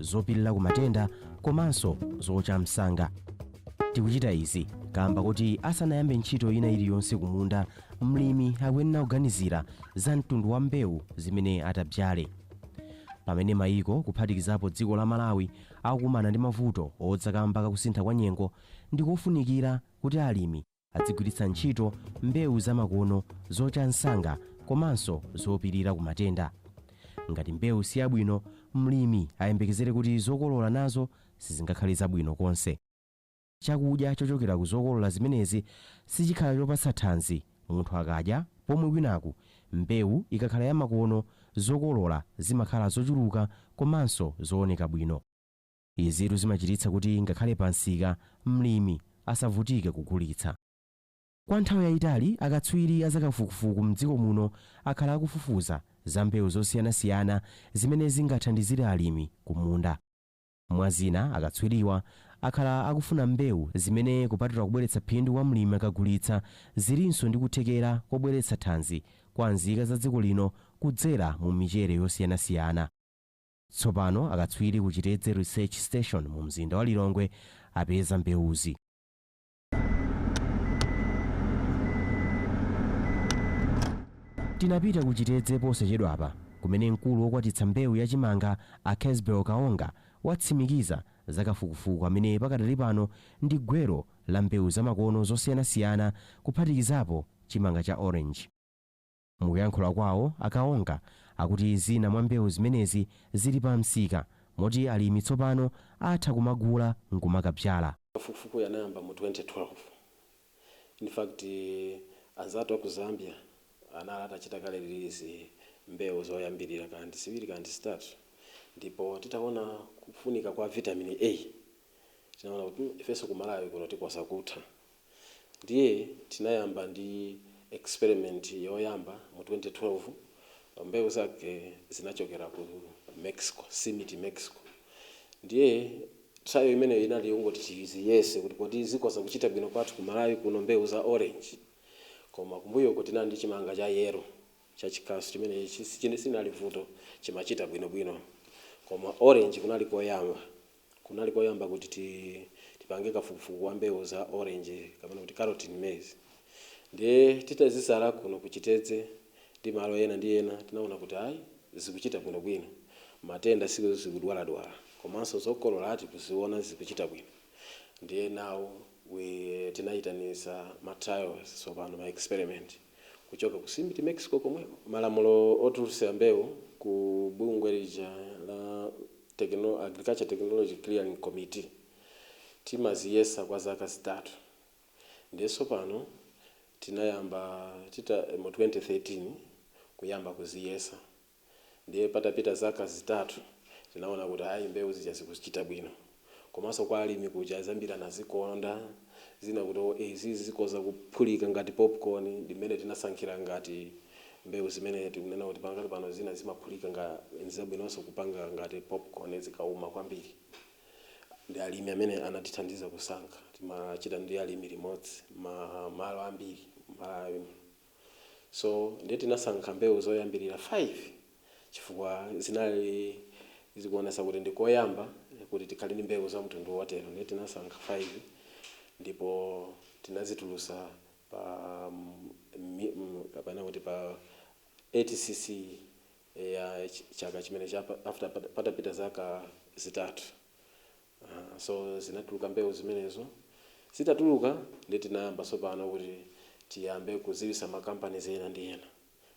zopilira ku matenda komanso zocha msanga. Tikuchita izi kamba kuti asanayambe ntchito ina iliyonse kumunda, mlimi akuyenera kuganizira za mtundu wa mbewu zimene atadzale. Pamene mayiko kuphatikizapo dziko la Malawi akukumana ndi mavuto odza kamba kakusintha kwa nyengo, ndikofunikira kuti alimi adzigwiritsa ntchito mbewu zamakono zocha msanga komanso zopirira ku matenda. Ngati mbewu si yabwino, mlimi ayembekezere kuti zokolola nazo sizingakhale zabwino konse. Chakudya chochokera ku zokolola zimenezi sichikhala chopatsa thanzi munthu akadya pomwe kwinaku mbewu ikakhala yamakono zokolola zimakhala zochuluka komanso zooneka bwino. Izitu zimachititsa kuti ngakhale pamsika, mlimi asavutike kugulitsa. Kwa nthawi yaitali, akatswiri a zakafukufuku m'dziko muno akhala akufufuza za mbewu zosiyanasiyana zimene zingathandizire alimi kumunda. Mwa zina, akatswiriwa akhala akufuna mbewu zimene kupatula kubweretsa phindu kwa mlimi akagulitsa, zilinso ndi kuthekera kobweretsa thanzi kwa nzika za dziko lino kudzera mu michere yosiyanasiyana. Tsopano akatswiri ku Chitedze Research Station mu mzinda wa Lilongwe apeza mbewuzi. Tinapita ku Chitedze posachedwapa kumene mkulu wokwatitsa mbewu ya chimanga a Kesbel Kaonga watsimikiza za kafukufuku amene pakadali pano ndi gwero la mbewu zamakono zosiyanasiyana kuphatikizapo chimanga cha orange. Mukuyankhula kwawo, a Kaonga akuti zina mwa mbewu zimenezi zili pa msika moti alimi tsopano atha kumagula nkumakabzala. Kafukufukuyu anayamba mu 2012. In fact, anzathu a ku Zambia anali atachita kale release mbewu zoyambirira kana ndi ziwiri kana ndi zitatu ndipo titaona kufunika kwa Vitamin A tinaona kuti mm ifenso ku Malawi kuno tikhoza kutha. Ndiye tinayamba ndi experiment yoyamba mu 2012. Mbewu zake zinachokera ku Mexico, CIMMYT Mexico. Ndiye trial imeneyo inali yongoti tiziyese kuti kodi zikhoza kuchita bwino kwathu ku Malawi kuno mbewu za orange. Koma kumbuyoko tinali ndi chimanga cha yellow chachikasu chimene silinali vuto, chimachita bwinobwino. Koma orange kunali koyamba. Kunali koyamba kuti tipange kafukufuku wa mbewu za orange kapena kuti carotene maize ndiye titazizala kuno ku Chitedze ndi malo ena ndi ena tinaona kuti ayi zikuchita bwinobwino matenda sizikudwaladwala komanso zokolola tikuziona zikuchita bwino ndiye now tinayitanisa ma trials tsopano ma experiment. kuchoka ku CIMMYT Mexico komweko. Malamulo otulutsira mbewu ku bungwe lija la Techno Agriculture Technology Clearing Committee timaziyesa kwa zaka zitatu ndiye tsopano tinayamba tita mu 2013 kuyamba kuziyesa. Ndiye patapita zaka zitatu tinaona kuti ayi mbewu zija zikuchita bwino. Komanso kwa alimi kuja zambiri anazikonda. Zina kuti oh izizi zikhoza kuphulika ngati popcorn ndi mmene tinasankhira ngati mbewu zimene tikunena kuti pakali pano zina zimaphulika nga n'zabwinonso kupanga ngati popcorn zikauma kwambiri. Ndi alimi amene anatithandiza kusankha. Timachita ndi alimi limodzi ma malo ambiri Malawi. So, ndiye tinasankha mbewu zoyambirira 5 chifukwa zinali zikuonetsa kuti ndi koyamba kuti tikhale ndi mbewu za mtundu wotero. Ndiye tinasankha 5 ndipo tinazitulutsa pa kapena kuti pa ATCC ya chaka chimene after patapita zaka zitatu. Aha, so zinatuluka mbewu zimenezo. Zitatuluka ndiye tinayamba tsopano kuti tiyambe kudziwitsa ma companies ena ndi ena.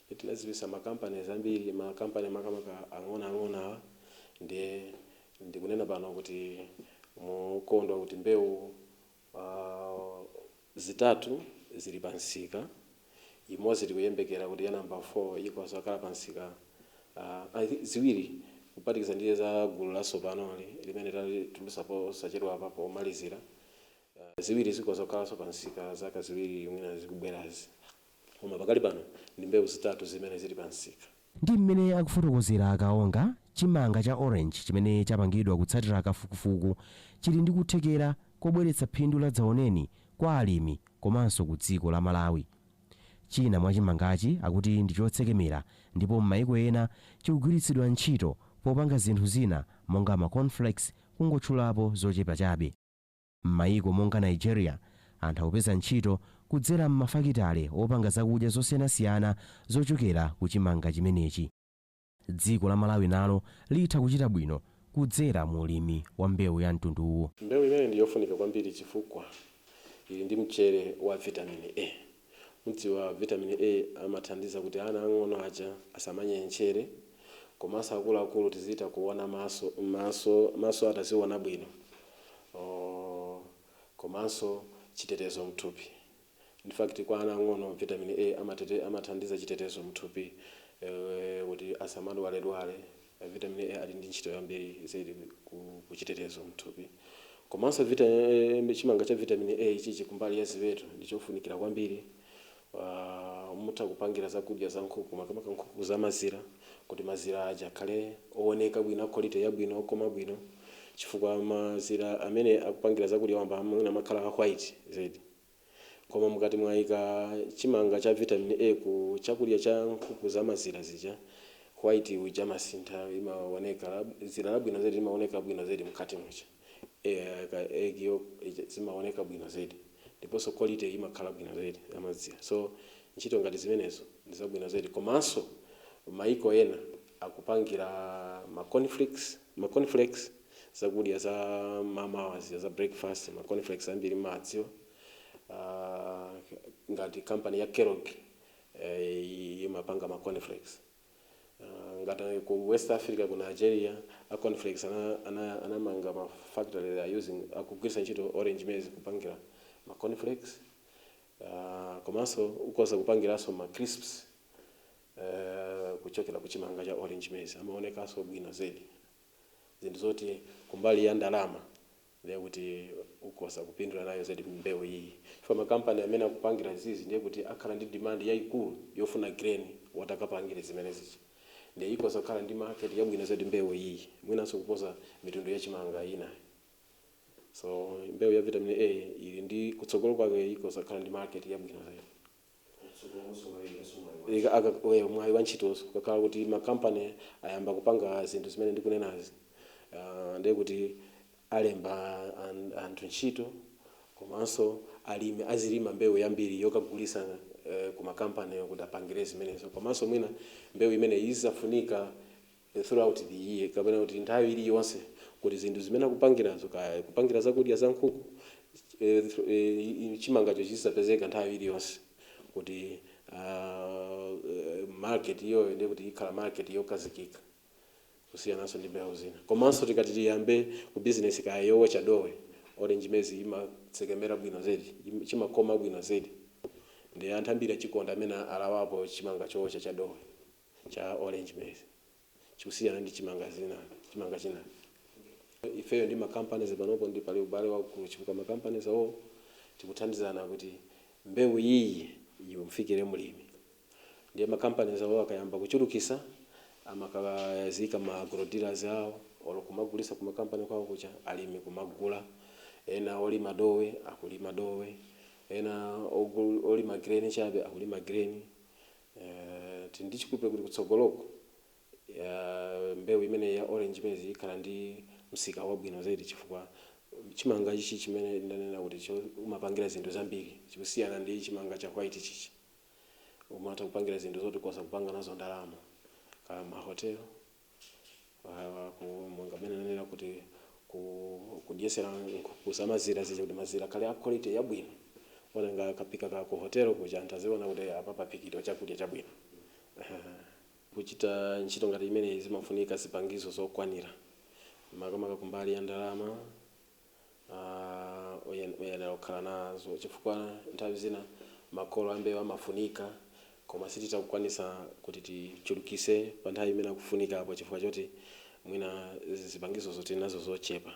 Ndiye tinadziwitsa ma companies ambiri, ma company makamaka ang'onoang'ono awa. Ndiye ndikunena pano kuti mokondwa kuti mbewu. Zitatu zili pa msika, imodzi tikuyembekera kuti ya number 4 ikhoza kukhala pa msika I think ziwiri kuphatikiza ndi za gulu latsopanoli limene talitulutsa posachedwapa pomalizira, ziwiri zikhoza kukhalanso pa msika zaka ziwiri mwina zikubwerazi koma pakali pano ndi mbewu zitatu zimene zili pa msika. Ndi mmene akufotokozera a Kaonga, chimanga cha Orange chimene chapangidwa kutsatira kafukufuku chili ndi kuthekera kobweretsa phindu la dzaoneni kwa alimi komanso ku dziko la Malawi. China mwa chimangachi akuti ndi chotsekemera ndipo mmaiko ena chikugwiritsidwa ntchito popanga zinthu zina monga ma Cornflakes kungotchulapo zochepa chabe. M'mayiko monga Nigeria, anthu akupeza ntchito kudzera m'mafakitale opanga zakudya zosiyanasiyana zochokera ku chimanga chimenechi. Dziko la Malawi nalo litha kuchita bwino kudzera mu ulimi wa mbewu ya mtunduwu. Mbewu imeneyi ndi yofunika kwambiri chifukwa ili ndi mchere wa vitamini A. Mudziwa vitamini A amathandiza kuti ana ang'ono aja asamanyentchere komanso akuluakulu tizitha kuona maso maso maso athu aziona bwino or komanso chitetezo mthupi in fact kwa ana ang'ono vitamini A amatete amathandiza chitetezo mthupi kuti asamadwaledwale. Vitamin A ali ndi ntchito yambiri zedi ku chitetezo mthupi. Komanso vita eeh chimanga cha vitamin A ichichi kumbali ya ziweto ndi chofunikira kwambiri. Aah mutha kupangira zakudya za nkhuku makamaka nkhuku za mazira kuti mazira aja akhale owoneka bwino a quality yabwino okoma bwino chifukwa mazira amene akupangidwa zakudya wamba mwina amakhala a white zedi. Koma mukati mwaika chimanga cha vitamin A ku chakudya cha nkhuku za mazira zija, white uja amasintha limaoneka dzira labwino zedi limaoneka bwino zedi mkati muja. Eya ka egg yolk ija zimaoneka bwino zedi. Ndiponso quality imakhala bwino zedi ya mazira. So ntchito ngati zimenezo ndi zabwino zedi. Komanso mayiko ena akupangira ma cornflakes, ma cornflakes. zakudya za mmamawa zija za breakfast ma cornflakes ambiri mmawadziwa uh, ngati company ya Kellogg eh, imapanga ma cornflakes uh, ngati ku West Africa ku Nigeria a cornflakes anamanga, ana, ana anamanga ma factory they are using akugwiritsa ntchito orange maize kupangira ma cornflakes uh, komanso ukhoza kupangiranso ma crisps eh, kuchokera ku chimanga cha orange maize amaonekanso bwino zedi zinthu zoti kumbali ya ndalama ndiye kuti ukhoza kupindula nayo zedi mbewu iyiyi chifukwa makampani amene akupangira izizi ndiye kuti akhala ndi demand yaikulu yofuna grain woti akapangire zimenezi ndiye ikhoza kukhala ndi market yabwino zedi mbewu iyiyi mwinanso kuposa mitundu ya chimanga ina. So mbewu ya vitamin A ili ndi kutsogolo kwake ikhoza kukhala ndi market yabwino zedi. mwayi wa ntchitonso ukakhala kuti ma company ayamba kupanga zinthu zimene ndikunenazi ndiye kuti alemba anthu ntchito komanso alimi azilima mbewu yambiri yokagulisa ku ma company kuti apangire zimenezo komanso mwina mbewu imeneyi izizafunika throughout the year kapena kuti nthawi iliyonse kuti zinthu zimene akupangirazo kaya kupangira zakudya za nkhuku chimangacho chizipezeka nthawi iliyonse kuti market iyoyo ndiye kuti ikhala market yokhazikika kusiyananso ndi mbewu zina komanso tikati tiyambe ku business kaya yowocha dowe orange maize imatsekemera bwino zedi chimakoma bwino zedi nde anthu ambiri achikonda amene alawapo chimanga chowocha cha dowe. cha orange maize chikusiyana ndi chimanga zina chimanga china ifeyo ndi ma companies panopo ndi pali ubale waukulu chifukwa ma companies wo tikuthandizana kuti mbewu iyiyi imufikire mlimi ndiye ma companies wo akayamba kuchulukisa amakaziika ma agro dealers awo olo kumagulisa kuma company kwawo kuja alimi kumagula ena olima dowe akulima dowe ena olima grain chabe akulima grain Eeeh tili ndi chikhulupiriro kuti kutsogoloku eeh mbewu imeneyi ya orange maize ikhala ndi msika wabwino zedi chifukwa chimanga ichi chimene ndanena kuti cho umapangira zinthu zambiri chikusiyana ndi chimanga cha white chichi umatha kupangira zinthu zoti ukhoza kupanga nazo ndalama kaya ma hotel Ah, ku monga mmene ndanenera kuti ku kudyesera nkhuku za mazira zija kuti mazira akhale a quality yabwino. Olonga akaphika ka ku hotel kuja anthu aziona kuti apa paphikidwa chakudya chabwino. Kuchita ntchito ngati imeneyi zimafunika zipangizo zokwanira makamaka kumbali ya ndalama. uyenera kukhala nazo chifukwa nthawi zina makolo ambewu amafunika koma sititha kukwanisa kuti tichulukise pa nthawi imene akufunikapo chifukwa choti mwina zipangizozo tili nazo zochepa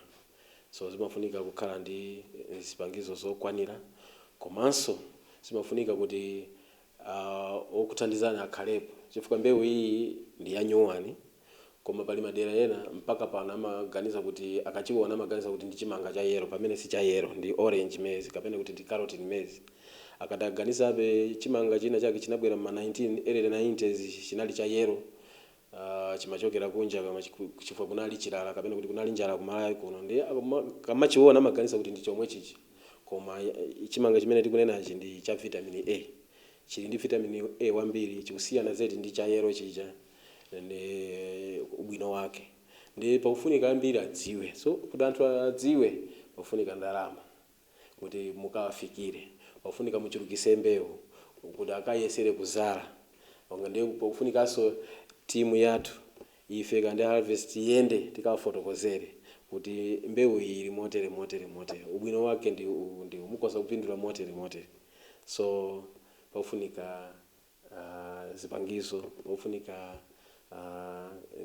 so zimafunika kukhala ndi zipangizo zokwanira komanso zimafunika kuti Aaa okuthandizani akhalepo chifukwa mbewu iyi ndi ya nyuwani koma pali madera ena mpaka pano amaganiza kuti akachiwona amaganiza kuti ndi chimanga cha yellow pamene si cha yellow ndi orange maize kapena kuti ndi carotene maize akadaganizabe chimanga china chake chinabwera mma 19 early 90s chinali cha yellow aah chimachokera kunja kama chi chifukwa kunali chilala kapena kuti kunali njala ku Malawi kuno ndiye akama akamachiona amaganiza kuti ndi chomwe chija koma aah chimanga chimene tikunenachi ndi cha vitamin A chili ndi vitamin A wambiri chikusiyana zedi ndi cha yellow chija ende ubwino wake ndiye pakufunika ambiri adziwe so kuti anthu adziwe pakufunika ndalama. kuti mukawafikire pakufunika muchulukise mbewu kuti akayesere kuzala ndiye pakufunikanso timu yathu ife ngati harvest tiyende tikawafotokozere kuti mbewu iyi ili motere motere motere ubwino wake ndi uwu ndi uwu mukhoza kupindula motere motere so pakufunika zipangizo pofunika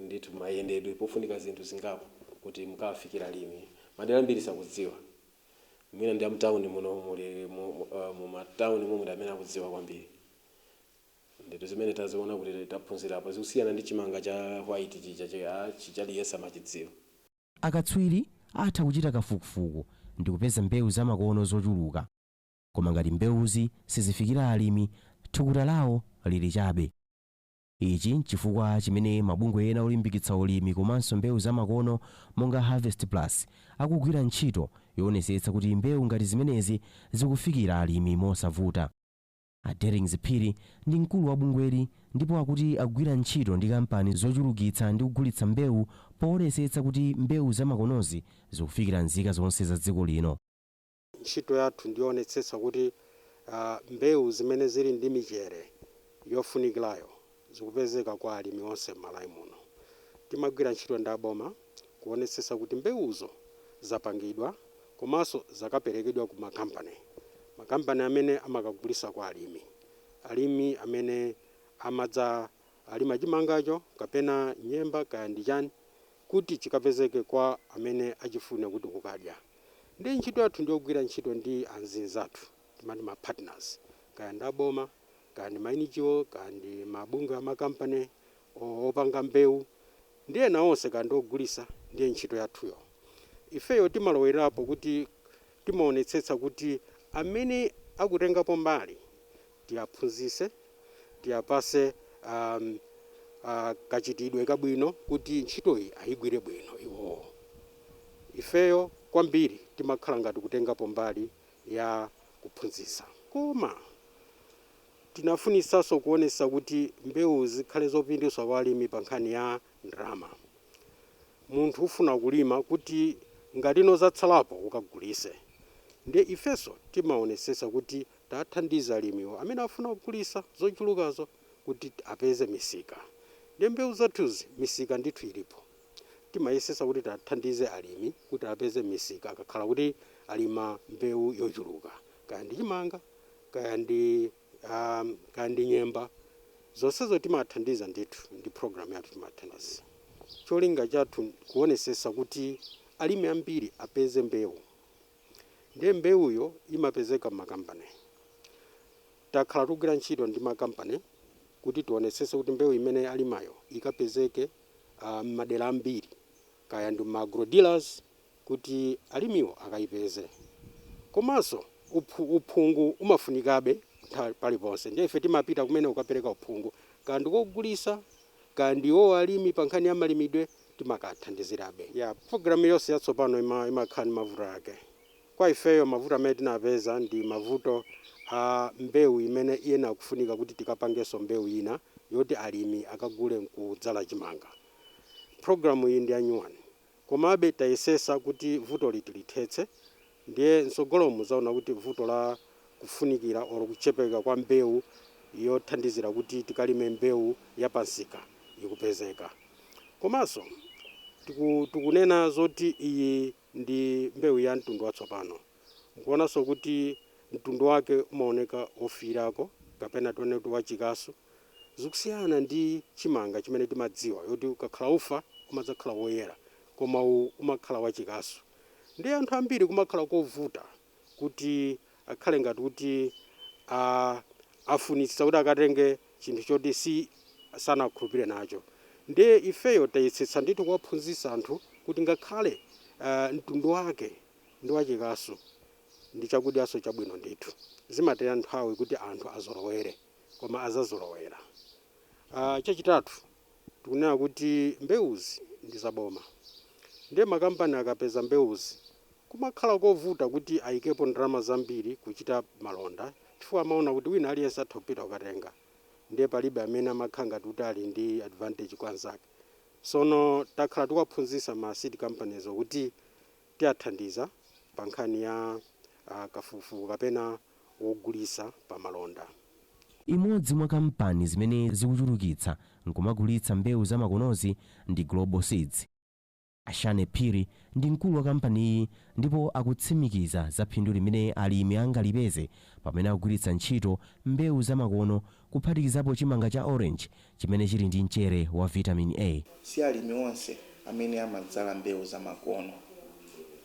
ndithu mayendedwe pofunika zinthu zingapo kuti mukawafikire alimi madera ambiri sakudziwa mwina ndi amtauni muno muli mu matauni mo muli amene akudziwa kwambiri ndithu zimene taziona kuti taphunzirapo zikusiyana ndi chimanga cha white chija cha white chija aliyense amachidziwa. Akatswiri atha kuchita kafukufuku ndikupeza mbewu zamakono zochuluka. koma ngati mbewuzi sizifikira alimi, thukuta lawo lili chabe. Ichi n'chifukwa chimene mabungwe ena olimbikitsa ulimi komanso mbewu zamakono monga Harvest Plus akugwira ntchito yoonetsetsa kuti mbewu ngati zimenezi zikufikira alimi mosavuta. A Dellings Phiri ndi mkulu wa bungweli ndipo akuti akugwira ntchito ndi kampani zochulukitsa ndi kugulitsa mbewu poonetsetsa kuti mbewu zamakonozi zikufikira nzika zonse za dziko lino. Ntchito yathu ndiyowonetsetsa kuti mbewu zimene zili ndi michere yofunikilayo zikupezeka kwa alimi onse m'Malawi muno. Timagwira ntchito ndi aboma kuwonetsetsa kuti mbewuzo zapangidwa komanso zakapelekedwa ku ma company, ma company amene amakagulitsa kwa alimi, alimi amene amadza alima chimangacho kapena nyemba kaya ndi chani. kuti chikapezeke kwa amene achifuna kuti kukadya ndi ntchito yathu ndiyogwira ntchito ndi anzathu timati ma partners kaya ndi aboma kaya ndi ma NGO kaya ndi mabungwe a ma company opanga mbewu ndi ena onse kaya ndi ogulisa ndiye ntchito yathuyo ifeyo timalowerapo kuti Timaonetsetsa kuti amene akutengapo mbali tiaphunzise, tiapase kachitidwe kabwino kuti ntchitoyi ayigwire bwino iwowo. Ifeyo kwambiri timakhala ngati kutengapo mbali ya kuphunzisa koma timafunisanso kuonesa kuti mbewu zikhale zopindulitsa kwa alimi pa nkhani ya. ndrama. Munthu ufuna kulima kuti ngati zatsalapo ukagulise. Ndiye ifeso timaonesesa kuti tathandiza alimiwo amene afuna kugulisa zochulukazo kuti apeze misika. Ndiye mbewu zathuzi misika ndithu ilipo. Timayesesa kuti tathandize alimi kuti apeze misika akakhala kuti alima mbewu yochuluka. Kaya ndi chimanga, kaya ndi. kaya ndi nyemba zonsezo timathandiza ndithu ndi program yathu timathandiza cholinga chathu kuonesesa kuti alimi ambiri apeze mbewu ndiye mbewuyo imapezeka m'makampani takhala tikugwira ntchito ndi makampani kuti tionesese kuti mbewu imene alimayo ikapezeke uh, m'madera ambiri kaya ndi ma agrodealers kuti alimiwo akayipeze komanso uphu uphungu umafunikabe paliponse ndiye ife timapita kumene kukapereka uphungu kaya ndi ogulisa kaya ndi iwowo alimi pa nkhani ya malimidwe timakathandizirabe ya program yonse yatsopano ima imakhala ndi mavuto ake kwa ifeyo mavuto amene tinapeza ndi mavuto a mbewu imene iyenera kufunika kuti tikapangenso mbewu ina yoti alimi akagule nkudzala chimanga program iyi ndi ya nyuwani Komabe tayesesa kuti vutoli tilithetse ndiye mtsogolomu mudzaona kuti vuto la kufunikira or kuchepeka kwa mbewu yothandizira kuti tikalime mbewu ya pa msika ikupezeka. Komanso tiku tikunena zoti iyi ndi mbewu ya mtundu watsopano. Mukuonanso kuti mtundu wake umaoneka wofiirako kapena tinene kuti wachikasu. zikusiyana ndi chimanga chimene timadziwa yoti ukakhala ufa umadzakhala woyera koma uwu umakhala wachikasu nde anthu ambiri kumakhala kovuta kuti akhale ngati kuti afunitsitsa kuti akatenge chinthu choti si sanakulire nacho nde ifeyo tayesetsa ndithu kuwaphunzitsa anthu kuti ngakhale mtundu wake ndi wachikasu ndi chakudyanso chabwino ndithu zimatenga nthawi kuti anthu azolowere. koma azazolowera. Chachitatu, tikunena kuti mbewuzi ndi za boma ndiye makampani akapeza mbewuzi kumakhala kovuta kuti ayikepo ndalama zambiri kuchita malonda chifukwa amaona kuti wina aliyense atha kupita kukatenga ndiye palibe amene amakhala ngati kuti ali ndi advantage kwa anzake. Sono takhala tikuwaphunzisa ma seed companies kuti tiathandiza pa nkhani ya kafukufuku kapena wogulitsa pa malonda. Imodzi mwa kampani zimene zikuchulukitsa nkumagulitsa mbewu za makonozi ndi Global Seeds. A Shane Phiri ndi mkulu wa kampani iyi ndipo akutsimikiza za phindu limene alimi angalipeze pamene akugwiritsa ntchito mbewu za makono kuphatikizapo chimanga cha orange chimene chili ndi mchere wa vitamini A. Si alimi onse amene amadzala mbewu zamakono.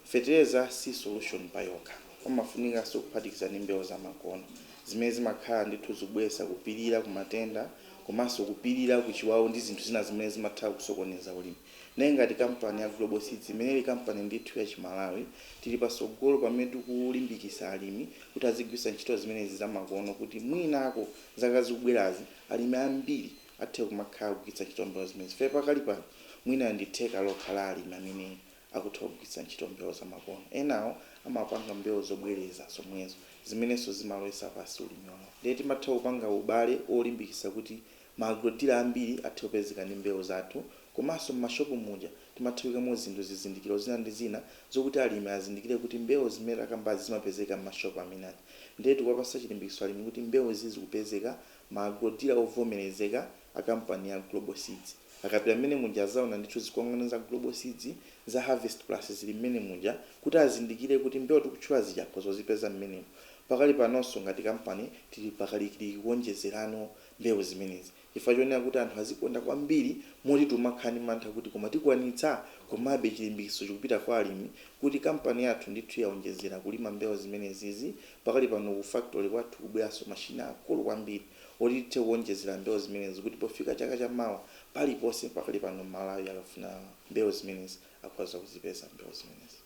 Fetereza si solution payokha. Pamafunikanso kuphatikiza ndi mbewu zamakono zimene zimakhala ndithu zikubweretsa, kupilira ku matenda komanso kupilira ku chiwawu ndi zinthu zina zimene zimatha kusokoneza ulimi. Nde ngati kampani ya Global Seeds imene ili kampani ndithu ya chimalawi, tili patsogolo pamene tikulimbikisa alimi kuti azigwiritsa ntchito zimenezi zamakono kuti mwinako zaka zikubwerazi alimi ambiri athe kumakhala akugwiritsa ntchito mbewu zimenezi chifukwa pakali pano mwina ndi theka lokha la alimi amene akutha kugwiritsa ntchito mbewu zamakono. Enawo amapanga mbewu zobwereza zomwezo zimenenso zimalowetsa pansi ulimi wawo. Nde timatha kupanga ubale wolimbikisa kuti Ma agrodila ambiri athe kupezeka ndi mbewu zathu komanso m'mashopu muja timatha kuikamo zinthu zizindikiro zina ndi zina zokuti alimi azindikire kuti mbewu zimene takambazi zimapezeka m'mashopu amene aja ndiye tikuwapatsa chilimbikitso alimi kuti mbewu izi zikupezeka ma agrodila ovomerezeka a kampani ya Global Seeds akapita mmene muja azaona ndithu zikwangwani za Global Seeds za Harvest Plus zili mmene muja kuti azindikire kuti mbewu tikutchula zija akhoza kuzipeza mmenemo pakali panonso ngati kampani tili pakalikiliki kuonjezerano mbewu zimenezi. Chifukwa chonena kuti anthu azikonda kwambiri moti timakhala ndi mantha kuti koma tikwanitsa? Komabe chilimbikitso chikupita kwa alimi kuti kampani yathu ndithu yaonjezera kulima mbewu zimenezizi. Pakali pano ku factory kwathu kubweranso mashini aakulu kwambiri oti tithe kuonjezera mbewu zimenezi kuti pofika chaka cha mawa paliponse pakali pano m'Malawi akafuna mbewu zimenezi. akhoza kuzipeza mbewu zimenezi.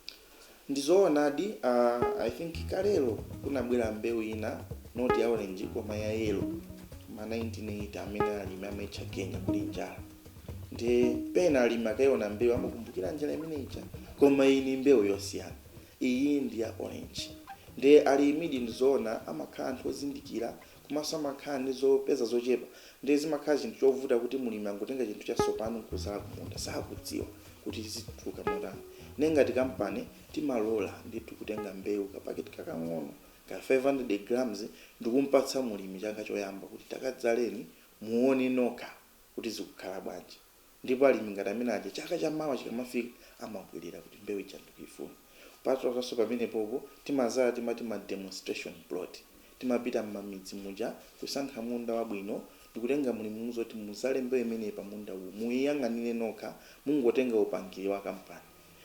Ndi zoonadi uh, I think kalelo kunabwera mbewu ina not ya orange koma ya yellow ma 1980 amene alimi amaitcha Kenya kuli njala ndiye pena alimi akaiona mbewu amakumbukira njala imene ija koma iyi ni mbewu yosiyana iyi ndi ya orange ndiye alimidi ndizoona amakhala anthu ozindikira Komanso amakhala ndi zopeza zochepa ndiye zimakhala chinthu chovuta kuti mlimi angotenga chinthu chatsopano n'kudzala kumunda, sakudziwa kuti zituluka motani. Ndiye ngati kampani, timalola ndithu kutenga mbewu, kapaketi kakang'ono ka 500 grams, ndikum'patsa mlimi chaka choyamba kuti takadzaleni muone nokha kuti zikukhala bwanji. Ndipo alimi ngati amene aja chaka cha mawa chikamafika amabwerera kuti mbewu ija ndikuifuna. Kupatulaso pamenepopo timazala timati ma demonstration plot. Timapita mmamidzi muja kusankha munda wabwino ndikutenga mlimi kumuuza kuti muzale mbewu imeneyi pa munda uwu muiyang'anire nokha mungotenga upangiri wa kampani.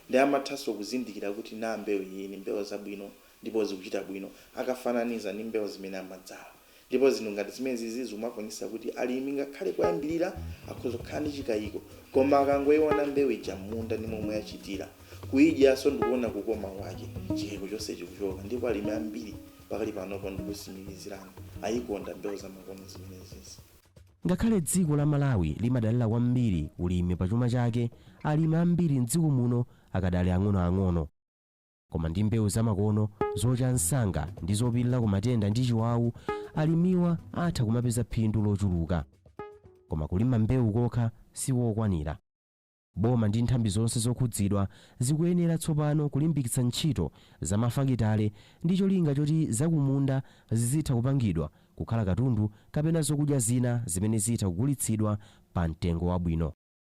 Nde amathanso kuzindikira kuti naa mbewu iyi ndi mbewu zabwino ndipo zikuchita bwino akafananiza ndi mbewu zimene amadzala. Ndipo zinthu ngati zimenezizi zikumaonetsa kuti alimi ngakhale koyambirira akhoza kukhala ndi chikayiko, koma akangoiona mbewu ija m'munda ndi momwe yachitira, kuidyanso ndi kuona kukoma kwake, chikayiko chonse chikuchoka. Ndipo alimi ambiri pakali panopo ndikutsimikizirani, ayikonda mbewu zamakono zimenezizi. Ngakhale dziko la Malawi limadalira kwambiri ulimi pa chuma chake, alimi ambiri m'dziko muno akadali ang'onoang'ono. Koma ndi mbewu zamakono, zocha msanga ndi zopirira ku matenda ndi chiwawu, alimiwa atha kumapeza phindu lochuluka. Koma kulima mbewu kokha sikokwanira. Boma ndi nthambi zonse zokhudzidwa zikuyenera tsopano kulimbikitsa ntchito za mafakitale ndi cholinga choti zakumunda zizitha kupangidwa kukhala katundu kapena zokudya zina zimene zitha kugulitsidwa pa mtengo wabwino.